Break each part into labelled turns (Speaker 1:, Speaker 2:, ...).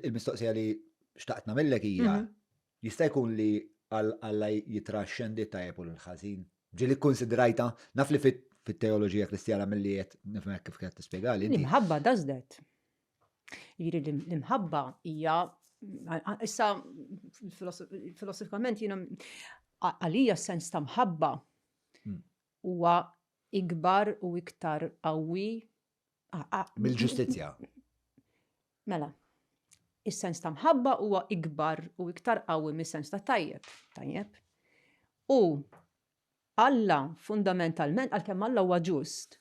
Speaker 1: Il-mistoqsija li xtaqt nagħmillek hija mhm. jista' jkun li Alla jitra xendi tajjeb u l-ħażin. Ġieli kkunsidrajta, naf li fit-teoloġija kristjana milli qed nifhmek kif qed tispjegali. L-imħabba does that. Jiri l-imħabba hija issa filosofikament jiena għalija sens ta' mħabba hmm. huwa ikbar u iktar qawwi Ah, ah. Mill-ġustizzja. Mela, is-sens ta' mħabba huwa ikbar u iktar qawwi mis-sens ta' tajjeb, tajjeb. U Alla fundamentalment għalkemm Alla huwa ġust,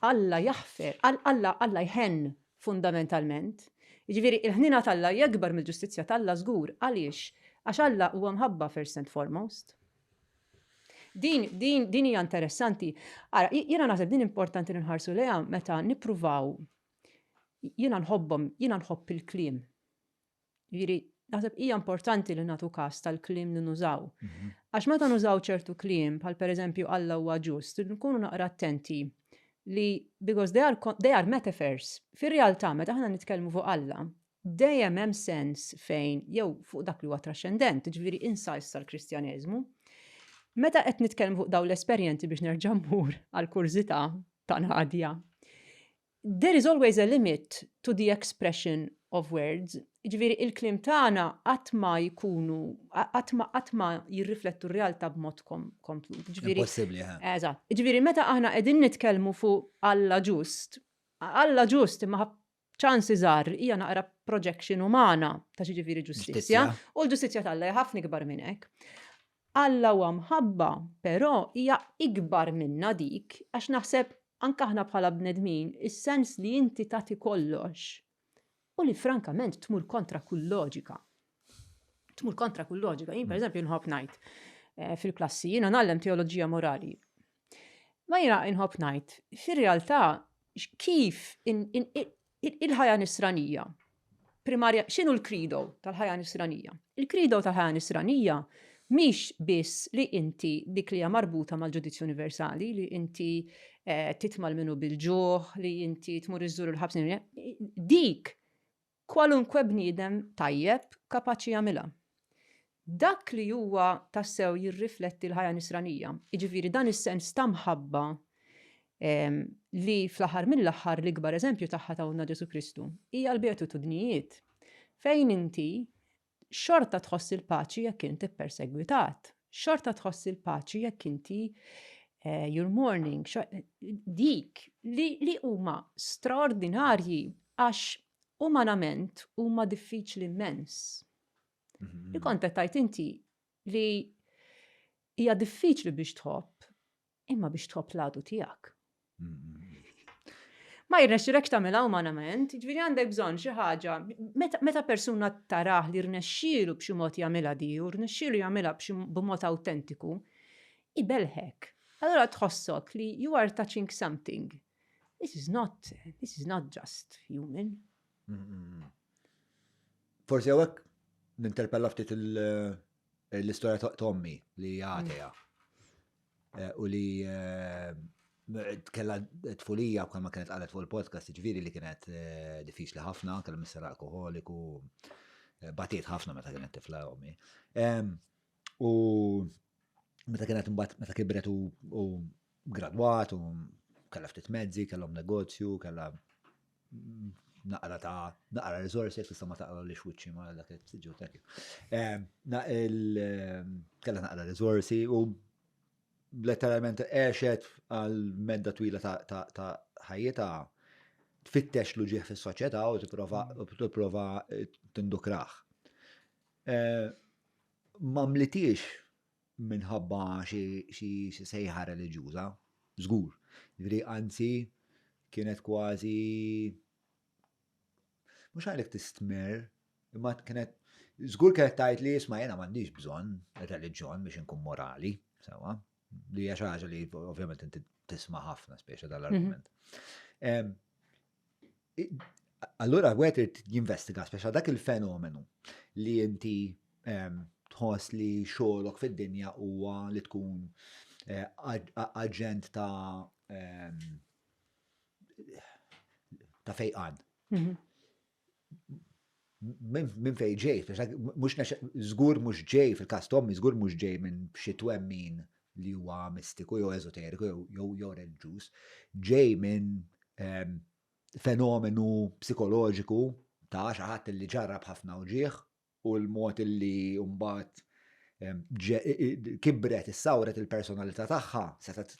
Speaker 1: Alla jaħfer, Alla Alla jħen fundamentalment. Jiġifieri il-ħnina t'Alla jekbar mill-ġustizzja t'Alla żgur għaliex għax Alla huwa mħabba first and foremost. Din, din, din hija interessanti. Ara, jiena naħseb din importanti li nħarsu lejha meta nippruvaw jiena nħobbhom, jiena nħobb il-kliem. Jiġri, naħseb hija importanti li nagħtu każ tal-kliem li nużaw. Mhm. Għax meta nużaw ċertu kliem, bħal pereżempju Alla huwa ġust, nkunu naqra attenti li because they are, they are metaphors. Fir-realtà, meta aħna nitkellmu fuq Alla, Dejjem hemm sens fejn, jew fuq dak li huwa traxxendent, jiġifieri insights tal-Kristjaneżmu. Meta qed nitkellmu fuq dawn l-esperjenzi biex nerġa' mmur għall-kurżità ta' Nadia, there is always a limit to the expression of words, jiġifieri il-kliem tagħna qatt ma jkunu qatt ma qatt ma jirriflettu r-realtà b'mod komplut. Ġifieri Possibbli, ha. Eżatt. Ġifieri meta aħna qegħdin nitkellmu fuq Alla ġust, Alla ġust imma ċansi żgħar hija naqra projection umana ta' xi ġifieri ġustizzja, u l-ġustizzja t'Alla hija ħafna ikbar minn hekk. Alla huwa mħabba, però hija ikbar minna dik, għax naħseb anke aħna bħala bnedmin, is-sens li inti tagħti kollox u li frankament tmur kontra kull loġika. Tmur kontra kull loġika. Jien pereżempju nħobb ngħid eh, fil-klassi, jiena nagħlem teoloġija morali. Ma jiena nħobb ngħid, fir-realtà kif il-ħajja nisranija primarja, xinu l-krido tal-ħajja nisranija? Il-krido tal-ħajja nisranija miex biss li inti dik li marbuta mal-ġudizzju universali, li inti eh, titmal minnu bil-ġuħ, li inti tmur iżżur il-ħabsin, dik Kwalunkwe bniedem tajjeb kapaċi jagħmilha. Dak li huwa tassew jirrifletti l-ħajja Nisranija, jiġifieri dan is-sens ta' mħabba li fl-aħħar mill-aħħar l-ikbar eżempju tagħha tawna Ġesù Kristu, hija l-beatitudnijiet fejn inti Xorta tħoss il-paċi jekk int ippersegwitat. Xorta tħoss il-paċi jekk inti eh, your morning, dik li huma straordinarji għax umanament huma diffiċli immens. Mhm. Il-kontet tajt inti li hija diffiċli biex tħobb Imma biex tħobb l-għadu tiegħek. Ma jirnexxilek tagħmilha umanament, jiġifieri għandek bżonn xi ħaġa. Meta persuna tarah li rnexxielu b'xi mod jagħmilha di u rnexxielu jagħmilha b'mod awtentiku, ibelħek. Allura tħossok li you are touching something. This is not, this is not just human. Forsi għawek ninterpella ftit l-istoria ta' Tommy li għateja. u li kellha tfulija bħalma kienet qalet fuq il-podcast, jiġifieri li kienet diffiċli ħafna, kellha misser alkoholiku, batiet ħafna meta kienet tifla ommi. U meta kienet imbagħad meta kibret u gradwat u kellha ftit mezzi, kellhom negozju, kellha naqra ta' naqra rizorsi, jek tista' ma taqra li xwiċċi ma dak il-tiġu tekju. Kella naqra rizorsi u letteralment għexet għal medda twila ta' ħajjita tfittex l ġieħ fis soċjetà u tipprova tindukraħ. Mamlitiex minħabba xi xi xi sejħa reliġjuża, żgur. Jiġifieri anzi kienet kważi mhux għalhekk tistmer, imma kienet żgur kienet tgħid li isma' jiena m'għandix bżonn ir-reliġjon biex inkun morali, sewwa. Li hija xi ħaġa li ovvjament inti tisma' ħafna speċi dal-argument. Allura għet irid jinvestiga speċa dak il-fenomenu li inti ehm, tħoss li xogħolok fid-dinja huwa li tkun eh, aġent ta' ehm, ta' fejqan. Mhm. minn fej ġej, mux zgur mux ġej fil-kas tommi, zgur mux ġej minn xi twemmin li huwa mistiku jew ezoteriku jew reliġjuż, ġej minn ehm, fenomenu psikoloġiku ta' xaħat li ġarrab ħafna uġieħ u l-mod li mbagħad kibret, issawret il-personalità tagħha, setgħet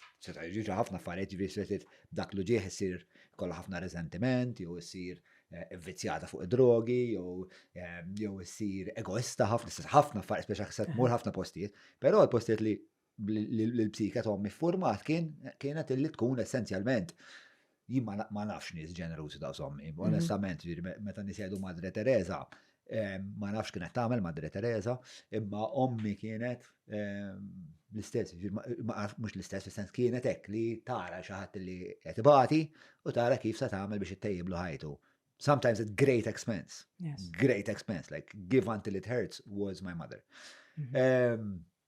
Speaker 1: jiġri ħafna affarijiet ġifieri setgħet dak li ġieħ isir kollha ħafna riżentiment, jew issir vvizzjata fuq id-drogi, jew issir egoista ħafna, ħafna affarijiet speċi se tmur ħafna postijiet, però l-postijiet li l-psike ta' ommi format kien kienet illi tkun essenzjalment jien ma nafx nies ġenerużi ta' sommi, mhm. onestament, meta nisjedu Madre Teresa, ma nafx kienet tagħmel Madre Teresa, imma ommi kienet l-istess, mhux l-istess, fis-sens kienet hekk li tara xi ħadd li qed ibati u tara kif se tagħmel biex ittejjiblu ħajtu. Sometimes at great expense. Yes. Great expense, like give until it hurts was my mother. Mhm.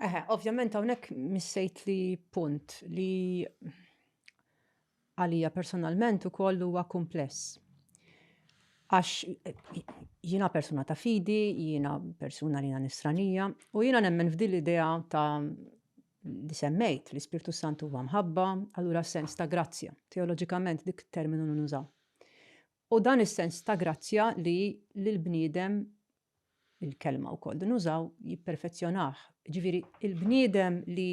Speaker 1: Eħe, ovvjament hawnhekk missejt li punt li għalija personalment ukoll huwa kumpless. Għax jiena persuna ta' fidi, jiena persuna li nisranija, u jiena nemmen f'din l-idea ta' li semmejt li Spirtu Santu huwa mħabba, allura sens ta' grazzja. Teoloġikament dik terminu nużaw. U dan is-sens ta' grazzja li l-bniedem, il-kelma wkoll li nużaw, jipperfezzjonah. Ġifieri il-bniedem li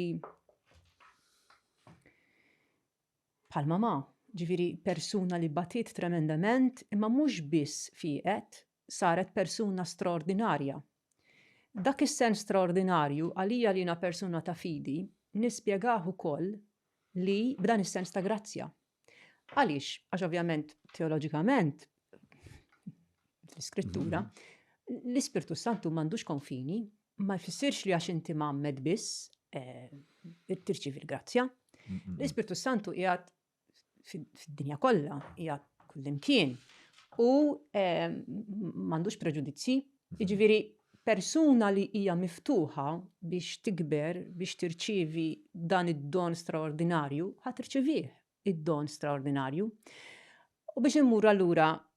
Speaker 1: bħal mamà, ġifieri persuna li batiet tremendament imma mhux biss fieqet, saret persuna straordinarja. Dak is-sens straordinarju, għalija li jiena persuna ta' fidi, nispjegah ukoll li b'dan is-sens ta' grazzja. Għaliex? Għax ovvjament teoloġikament, fl-Iskrittura, l-Ispirtu s-Santu m'għandux konfini, ma jfissirx li għax inti mgħammed biss, eh, tirċievi l-grazzja. L-Ispirtu s-Santu qiegħed fid-dinja kollha, hija kullimkien u ehm, m'għandux preġudizzji. Jiġifieri persuna li hija miftuħa biex tikber, biex tirċievi dan id-don straordinarju, ħa tirċivih id-don straordinarju. U biex immur allura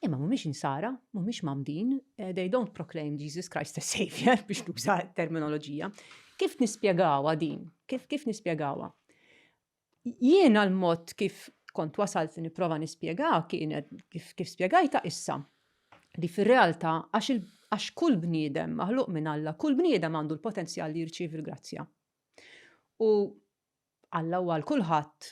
Speaker 1: Imma mhumiex insara, mhumiex mamdin, eh, they don't proclaim Jesus Christ as Savior biex tuża terminoloġija. Kif nispjegawa din? Kif kif nispjegawa? Jiena l-mod kif kont wasalt li nipprova nispjega kienet kif kif spjegajta issa li fir-realtà għax għax kull bniedem maħluq minn Alla, kull bniedem għandu l-potenzjal li jirċievi l-grazzja. U Alla huwa għal kulħadd,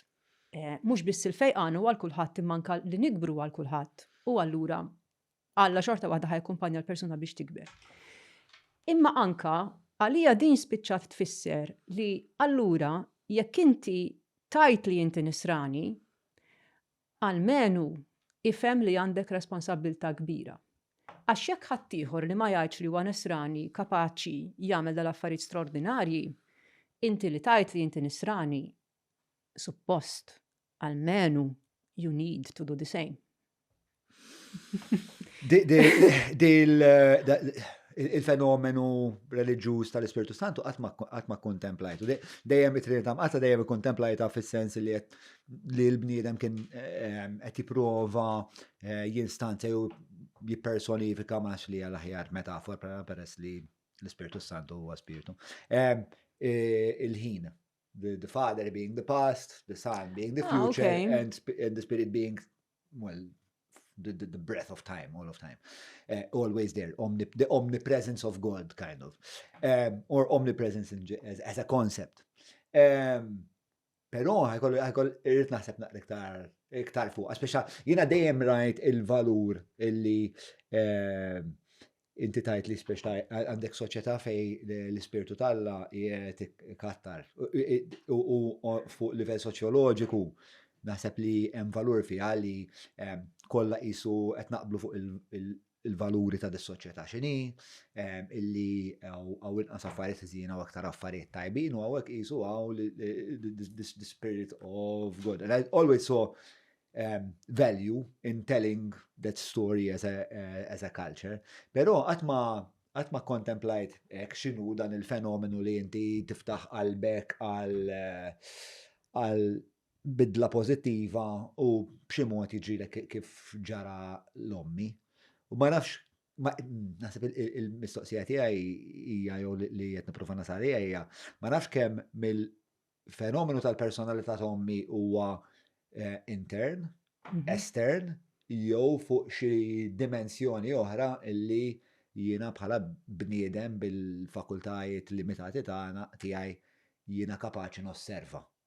Speaker 1: mhux biss il-fejqan huwa għal kulħadd imma anke li nikbru għal kulħadd, u allura Alla xorta waħda ħa jakkumpanja l-persuna biex tikber. Imma anke għalija din spiċċat tfisser li allura jekk inti tajt li inti nisrani, Almenu ifhem li għandek responsabbiltà kbira. Għax jekk ħaddieħor li ma jgħidx li huwa Nisrani kapaċi jagħmel dal-affarijiet straordinarji, inti li tgħid li inti Nisrani, suppost, almenu, you need to do the same. Il-fenomenu reliġjuż tal-Ispirtu Santu qatt ma kkontemplajtu. Dejjem it-Trinità Mqaddsa dejjem ikkontemplajta fis-sens li qed li l-bniedem kien ehm, qed jipprova eh, jinstanza jew jippersonifika ma li għal aħjar metafor bħala peress li l-Ispirtu Santu huwa Spirtu. Ehm, eh, il-ħin, the father being the past, the son being the ah, future, and, the spirit being, well, the, the, breath of time, all of time. Eh, always there, the omnipresence of God, kind of. Ehm, or omnipresence as, a concept. Pero ħajkollu ħajkoll irrid naħseb naqra iktar iktar fuq, speċa jiena dejjem rajt il-valur illi eh, inti tajt li spiex għandek soċjetà fej l-ispirtu talla jiet kattar. U fuq livell soċjoloġiku, naħseb li hemm valur fiha li kollha qisu qed naqblu fuq il-valuri ta' dis-soċjetà x'inhi, illi hawn inqas affarijiet ħżiena u aktar affarijiet tajbin u hawnhekk qisu hawn the spirit of God. And I always saw um, value in telling that story as a, uh, as a culture, però qatt ma għat ma kontemplajt ek xinu dan il-fenomenu li inti tiftaħ qalbek għal eh, għal bidla pożittiva u b'xi mod jiġrilek kif ġara l-ommi. U ma nafx, naħseb il-mistoqsija tiegħi hija jew li qed nipprova nasal hija, ma nafx kemm mill-fenomenu tal-personalità ta' ommi huwa eh, intern, mhm. estern, jew fuq xi dimensjoni oħra li jiena bħala bniedem bil-fakultajiet limitati tagħna tiegħi jiena kapaċi nosserva.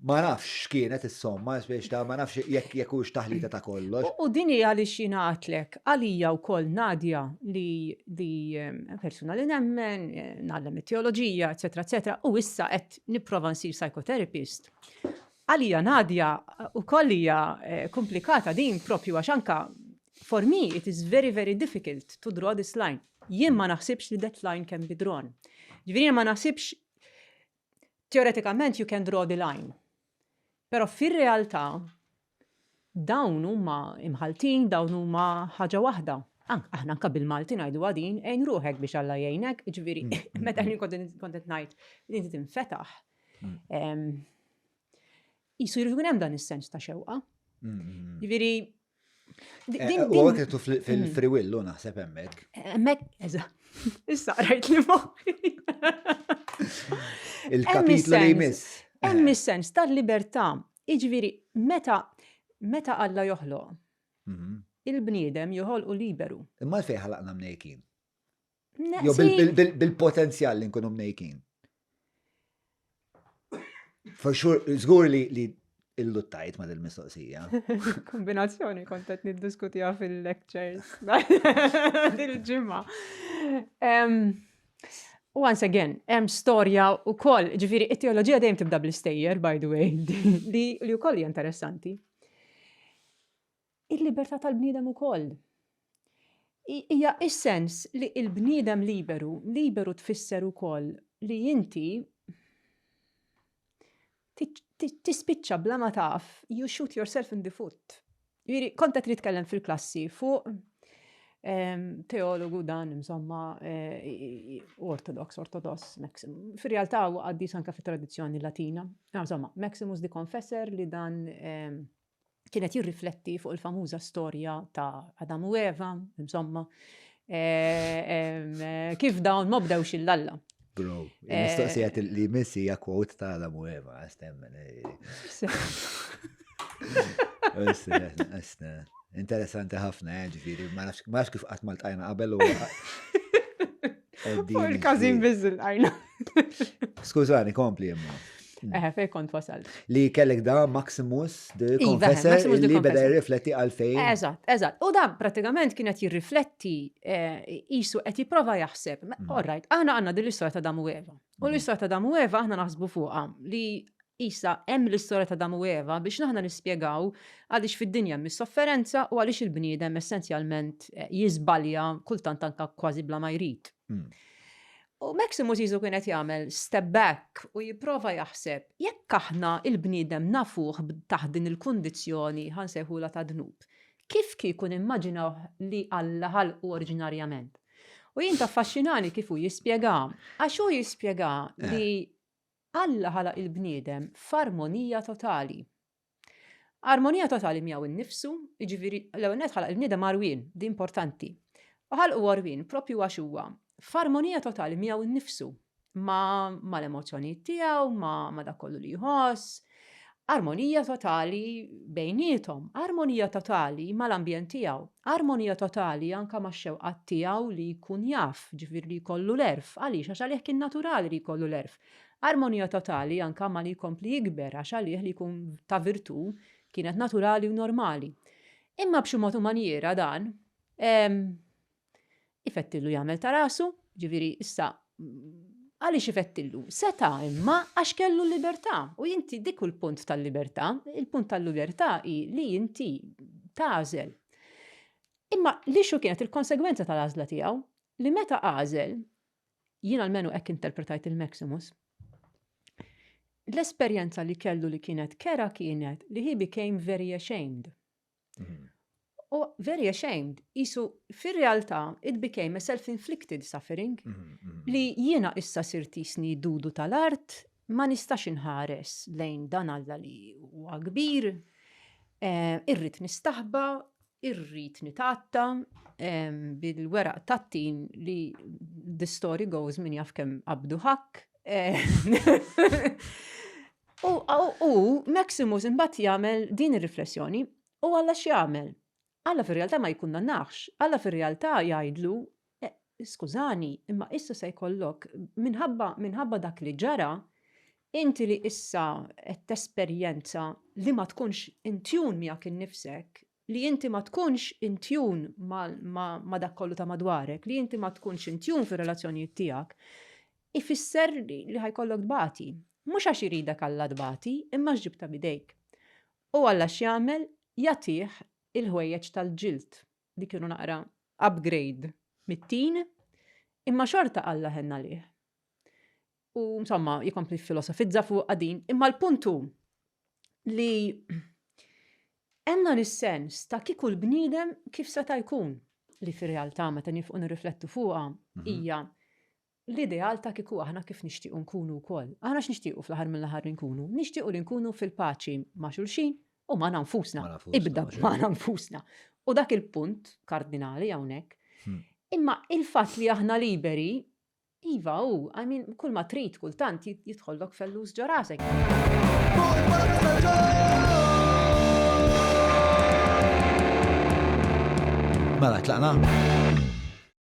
Speaker 1: Ma nafx x'kienet is-somma, biex ta' ma nafx jekk jekk hux taħlita ta' kollox. U din hi għaliex jiena għidtlek, għalija wkoll Nadia li li persuna li nemmen, ngħallem it-teoloġija, eċċetera eċċetera, u issa qed nipprova nsir psychotherapist. Għalija Nadia wkoll hija komplikata din propju għax anke for me it is very very difficult to draw this line. Jien ma naħsibx li that line can be drawn. Ġifieri ma naħsibx Teoretikament you can draw the line. Però fir-realtà dawn huma imħaltin, dawn huma ħaġa waħda. Aħna anka bil-Malti ngħidu għadin, għajn ruħek biex Alla jgħinek, ġviri, mm. meta li kontet ngħid li inti tinfetaħ. Mm. Jisu jirridu hemm dan is-sens ta' xewqa. Mm, Ġviri, Eh, u għek tu fil-friwillu mm. naħseb emmek. Emmek, eża. Issa rajt li moħi. Il-kapitlu li jmiss. Hemm eh. is-sens tal-libertà. Iġviri, meta meta Alla joħloq, mhm. il-bniedem joħolqu liberu. Imma fejn ħalaqna mnejkin? Jo bil-potenzjal li nkunu mnejkin. For sure, zgur li li illuttajt ma dil-mistoqsija. Kombinazzjoni kontet niddiskutija fil-lectures. Dil-ġimma. Once again, hemm storja u koll, ġifiri, it-teologija dejjem tibda bl-istejjer, by the way, li u koll interessanti. Il-libertà tal-bniedem ukoll. Hija s-sens li l-bniedem liberu, liberu tfisser ukoll li inti tispiċċa bla ma taf, you shoot yourself in the foot. Jiri, konta trid tkellem fil-klassi fuq ehm, teologu dan, insomma, eh, ortodox, ortodox, Maximus. Fil-realtà u għaddi sanka fit tradizzjoni latina. Insomma, Maximus di Confessor li dan ehm, kien qed jirrifletti fuq il-famuża storja ta' Adam u Eva, insomma, eh, kif dawn ma bdewx il-lalla. Bro, mistoqsijat eh, li missi ja kwot ta' Adam u Eva, għastemmen. Interessanti ħafna, eh, ġifiri, ma nafx kif qatt mal-tajna qabel u. Fuq il-każin biżil għajna. Skużani, kompli jemma. Mm. Eħe, fej kont wasal. Li kellek da Maximus de iva, Confessor li beda jirrifletti għalfejn. Eżat, eżat. U da pratikament kienet jirrifletti jisu eh, qed jipprova jaħseb. Mm. Alright, aħna għandna din l-istorja ta' Damu Eva. U mm. l-istorja ta' Damu Eva aħna naħsbu fuqha li Issa, hemm l-istorja ta' Adamu u Eva biex aħna nispjegaw għaliex fid-dinja hemm is-sofferenza u għaliex il-bniedem essenzjalment jiżbalja kultant anke kważi bla ma jrid. U Maximus Jesu kien qed jagħmel step back u jipprova jaħseb jekk aħna il-bniedem nafuh taħt din il-kundizzjoni ħansejħulha ta' dnub. Kif kieku nimmaġinaw li Alla ħalqu oriġinarjament? U jien taffaxxinani kif hu jispjega, għax hu jispjega li Alla ħalaq il-bniedem f'armonija totali. Armonija totali miegħu innifsu, jiġifieri l-ewwel nett ħalaq il-bniedem għarwien, di importanti. U ħalqu għarwien propju għax huwa f'armonija totali miegħu nnifsu, ma' l-emozzjonijiet tiegħu, ma' dak kollu li jħoss, Armonija totali bejniethom, armonija totali mal-ambjent tiegħu, armonija totali anka max-xewqat tiegħu li jkun jaf, ġifieri li jkollu l-għerf, għaliex għax għalih kien naturali li jkollu l-għerf. Armonija totali anka ma li jkompli jikber għax għalih li jkun ta' virtù kienet naturali u normali. Imma b'xi mod u manjiera dan ifettillu jagħmel ta' rasu, ġifieri issa għaliex ifettillu? Seta' imma għax kellu l-libertà u inti dik u l-punt tal-libertà, il-punt tal-libertà hi li inti tażel. Imma li xu kienet il-konsegwenza tal-għażla tiegħu li meta għażel jien almenu hekk interpretajt il-Maximus, l-esperjenza li kellu li kienet kera kienet li he became very ashamed. Mm. U very ashamed, jisu fir-realtà it became a self-inflicted suffering mm, mm. li jiena issa sirtisni dudu tal-art ma nistax inħares lejn dan alla li huwa kbir, eh, irrit nistaħba, irrit nitatta eh, bil-weraq tattin li the story goes min jaf kem abdu ħak. Eh, U, u, u Maximus imbagħad jagħmel din ir-riflessjoni, u Alla x'jagħmel? Alla fir-realtà ma jikkundannax, Alla fir-realtà jgħidlu, e, skużani, imma issa se jkollok minħabba minħabba dak li ġara, inti li issa qed tesperjenza li ma tkunx intjun miegħek innifsek, li inti ma tkunx intjun ma' dak kollu ta' madwarek, li inti ma tkunx intjun fir-relazzjonijiet tiegħek, ifisser li ħajkollok tbati. Mhux għax iridek Alla tbati, imma għax ġibta b'idejk. U Alla x'jagħmel? Jagħtih il-ħwejjeġ tal-ġild li kienu naqra upgrade mit-tin, imma xorta Alla ħenn għalih. U insomma, jikompli filosofizza fuqha din, imma l-punt hu li hemm dan is-sens ta' kieku l-bniedem kif seta' jkun li fir-realtà meta nifqu nirriflettu fuqha mhm. hija l-ideal ta' kieku aħna kif nixtiequ nkunu wkoll. Aħna x'nixtiequ fl-aħħar mill-aħħar nkunu? Nixtiequ li nkunu fil-paċi ma' xulxin u ma' nfusna. Ibda ma' nfusna. U dak il-punt kardinali hawnhekk. Hmm. Imma il-fatt li aħna liberi Iva hu, I mean, kull ma trid kultant jidħollok fellus ġo rasek. Mela tlaqna?